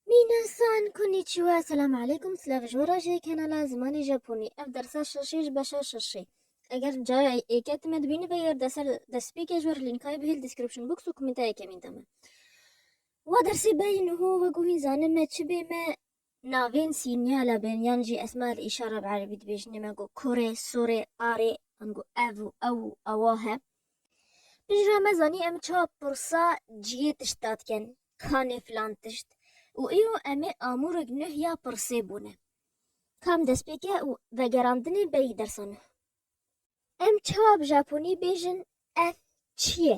Minasan konnichiwa selam aleykum silav ji wira jê kanala zimanê japonî ev dersa şaşê ji beşa şaşê eger cayê êke time dibîni bigir de ser destpêkê ji wer lînkayê bihêl description box û komêntayeke mîn de me wa dersê beyî niho wek û hîn zanê me çi bê me navên sînyala bên yan jî esma el îşara bi erebî dibêjinê me got korê sorê arê an got ev û ew û ewa he. Piştre me zanî em çawa pirsa cihê tişta dikin, kanê filan tişt û îro em ê amûrek nuh ya pirsê bûne. Kam destpêk e û vegerandinê berî dersa nuh. Em çawa bi japonî bêjin ev çi ye?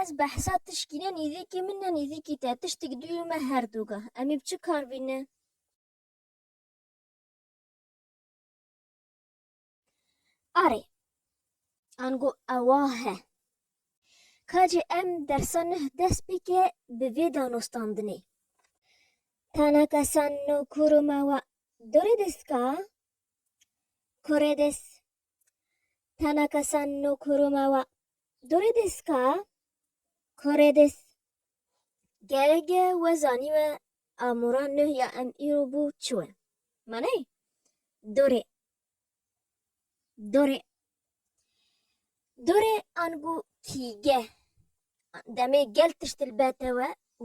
Ez behsa tişkî ne nîzîkî min ne nîzîkî te, tiştik duyî me her du gah. Em ê bi çi kar bîn ne? Arê. Ango ewa he. Kacê em dersa nuh dest bike bi vê danostandinê. Tana kesan no kuru me wa. Doredes ka? Koredes Tanaka San no Kuruma wa Dore desu ka? Kore desu. Gerege we zanîme amûra nuh ya em îro bû çi we. Manayê? Dore. Dore. Dore angu kîge. Demê gel tişt li be te we û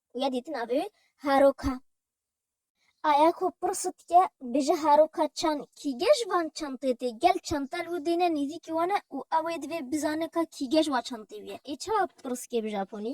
ku ya dîtin avê wî Haroka. Aya ku pirsa dike bêje Haroka çan kîge ji van çan tê tê? Gel çanta li wî dêne nîzîkî wan e û ew ê divê bizane ka kîge ji wa çantê wî ye. Ê çawa pirskê bi Japonî?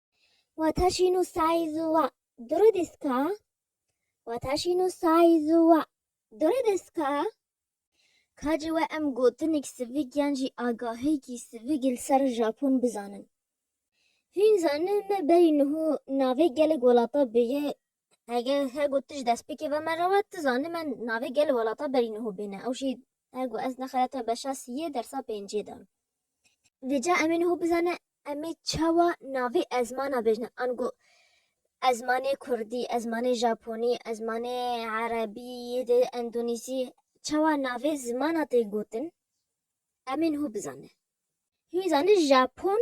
Wata şîn û sayî zuwa duri diska. Wata şîn û sayî zuwa duri diska. Ka ci we em gotinik sivik yan jî agahêkî sivik li ser Japon bizanin. Hûn zanin me berî niho navê gelek welata bi yê Hege hego tu ji destpêkê ve me re we, tu zanî me navê gelê welata berî niho bêne. Ew jî hego ez nexera te beşa siyê dersa pêncê de. Vêca em ê niho bizane em ê çawa navê ezmana bêjne. Ango ezmanê kurdî, ezmanê japonî, ezmanê erebî, yê dê endonîzî çawa navê zimana tê gotin em ê niho bizane. Hîn zanî japon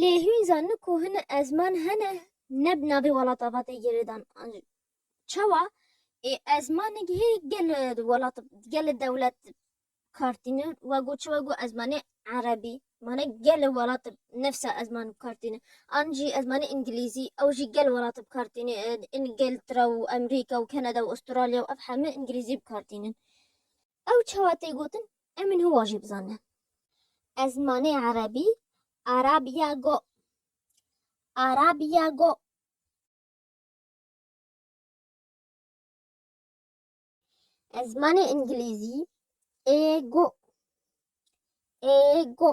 Lê hûn zanin ku hini ezman hene ne bi navê welata ve tê girêdan an jî çawa ê ezmanek hê gel welat gel dewlet kartîne we got çi we got ezmanê erebî mane gel welat nefsa ezman bi kartîne an jî ezmanê îngilîzî ew jî gel welat bi kartîne îngiltra û Amerîka û Kanada û Astralya û ev heme îngilîzî bi kartînin. Ew çawa tê gotin em ê hiwa jî bizanin. Ez zimanê erebî Arabia go. Arabia go. Ez zimanê îngilîzî ê go. Ê go.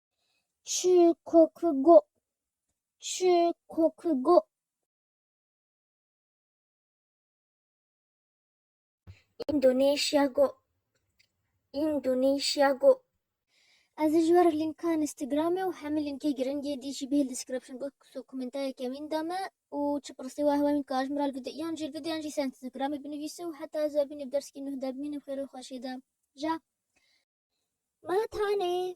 Çikokugo. Çikokugo. Indonesia go. Indonesia go. Ez ji ber linka Instagramê û hemî linkê giringê dî jî bihêl description box û komentayê kemîn da me û çi pirsî wa hewa min ka ji min re li vîdeo yan jî li vîdeoyan jî ser Instagramê binivîse û heta ez bibînim dersîkî nuh de bimînim xêr û xweşê de. Ja. Ma tane.